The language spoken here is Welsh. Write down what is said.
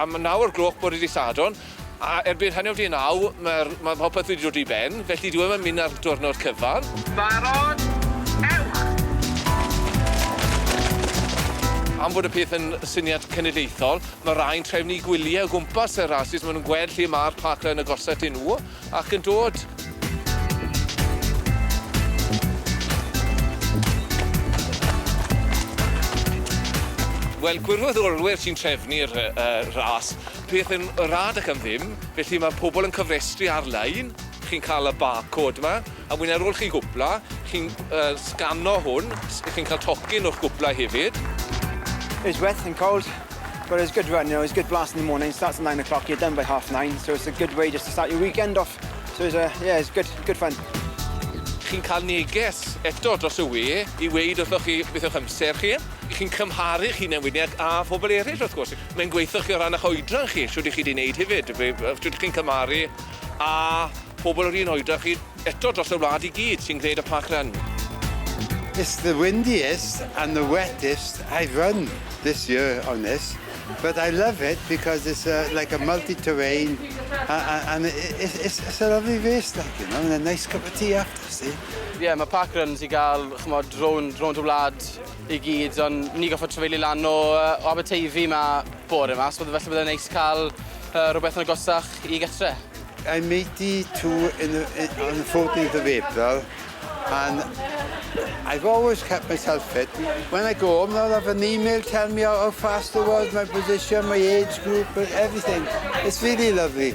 Am naw o'r gloch bore dydd Sadwrn, a erbyn hanner 'di naw, mae'r... mae popeth wedi dod i ben, felly dyw e ddim yn mynd ar diwrnod cyfan. Barod, ewch! Am fod y peth yn syniad cenedlaethol, mae rhai'n trefnu gwyliau o gwmpas y rasys, maen nhw'n gweld lle mae'r parkrun agosaf iddyn nhw. ac yn dod. Wel, gwirfoddolwyr sy'n trefnu'r ras, peth yn rad ac am ddim, felly mae pobl yn cofrestru ar-lein, chi'n cael y barcode 'ma. A wedyn ar ôl chi gwpla, chi'n yy sgano hwn, s- chi'n ca'l tocyn o'ch gwpla hefyd. It's wet and cold but it's good run you know it's good blast in the morning starts at nine o'clock you're done by half nine so it's a good way just to start your weekend off so it's a yeah it's good good fun. Chi'n ca'l neges eto dros y we i weud wrthoch chi beth yw'ch amser chi. Chi'n cymharu'ch hunen wedyn ag â phobol eryll wrth gwrs. Mae'n gweitho chi o ran 'ych oedran chi shwd 'ych chi 'di neud hefyd be- yy shwd chi'n cymharu a pobl yr un oedran chi eto dros y wlad i gyd sy'n gwneud y parkrun. It's the windiest and the wettest I've run this year on this, but I love it because it's a, like a multi-terrain and it's, it's, it's a lovely race, like, you know, and a nice cup of tea after, see? Ie, yeah, mae parkruns i gael, chymod, rownd, rownd y wlad, i gyd, ond ni goffod trafeili lan o uh, Aberteifi ma bore yma, so felly byddai'n neis cael uh, rhywbeth yn agosach i gytre. I made it to in the, in, on the 14th of April, and I've always kept myself fit. When I go home, I'll have an email telling me how, how fast I was, my position, my age group, everything. It's really lovely.